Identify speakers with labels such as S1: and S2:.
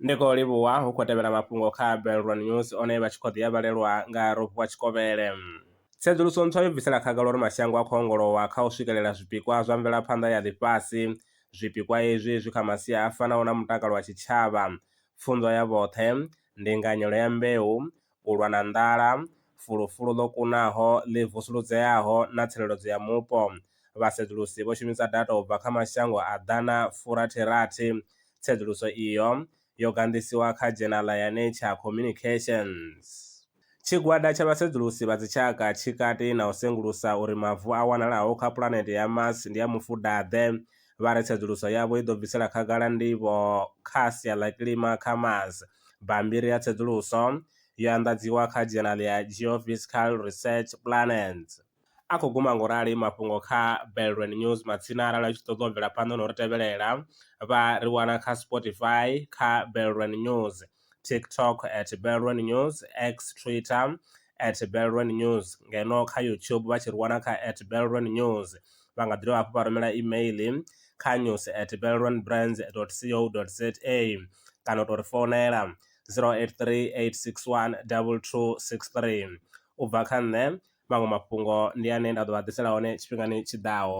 S1: ndi khou livhuwa hu khou tevhela mafhungo kha belron news one vha tshi khou ḓi avhalelwa nga rofhiwa tshikovhele tsedzuluso ntswa yo bvisela khagala uri mashango a khou ongolowa kha u swikelela zwipikwa zwa mvelaphanḓa ya ḽifhasi zwipikwa izwi zwi kha masia a fanaho na mutakalo wa tshitshavha pfunzo ya vhoṱhe ndinganyelo ya mbeu u lwa na nḓala, fulufulu ḽo kunaho, ḽi vusuludzeaho na tsireledzo ya mupo. Vhasedzulusi vho shumisa data u bva kha mashango a ḓana furathi-rathi. Tsedzuluso iyo yo ganḓisiwa kha dzhenala ya Nature Communications. Tshigwada tsha vhasedzulusi vha dzitshaka tshi kati na u sengulusa uri mavu a wanalaho kha pulanete ya Mars ndi a mufuda-ḓe. Vha ri tsedzuluso yavho i ḓo bvisela khagala ndivho kha sia ḽa kilima kha Mars. Bammbiri ya tsedzuluso yo anḓadziwa kha dzhenali ya Geophysical Research Planets. A khou guma nga u rali mafhungo kha Belrwin News matsina arali u tshi ṱoḓa u bvela phanḓa na u ri tevhelela vha ri wana kha Spotify kha Belrwin News, TikTok at Belrwin News, X, Twitter, @belrwennews ngeno kha YouTube vha tshi ri wana kha @belrwennews vha nga ḓi dovha hafhu vha rumela email kha news@belrwenbrands.co.za kana u tou ri founela 083 861 2263 u bva kha nṋe maṅwe mafhungo ndi ane nda ḓo vha ḓisela hone tshifhingani tshiḓaho.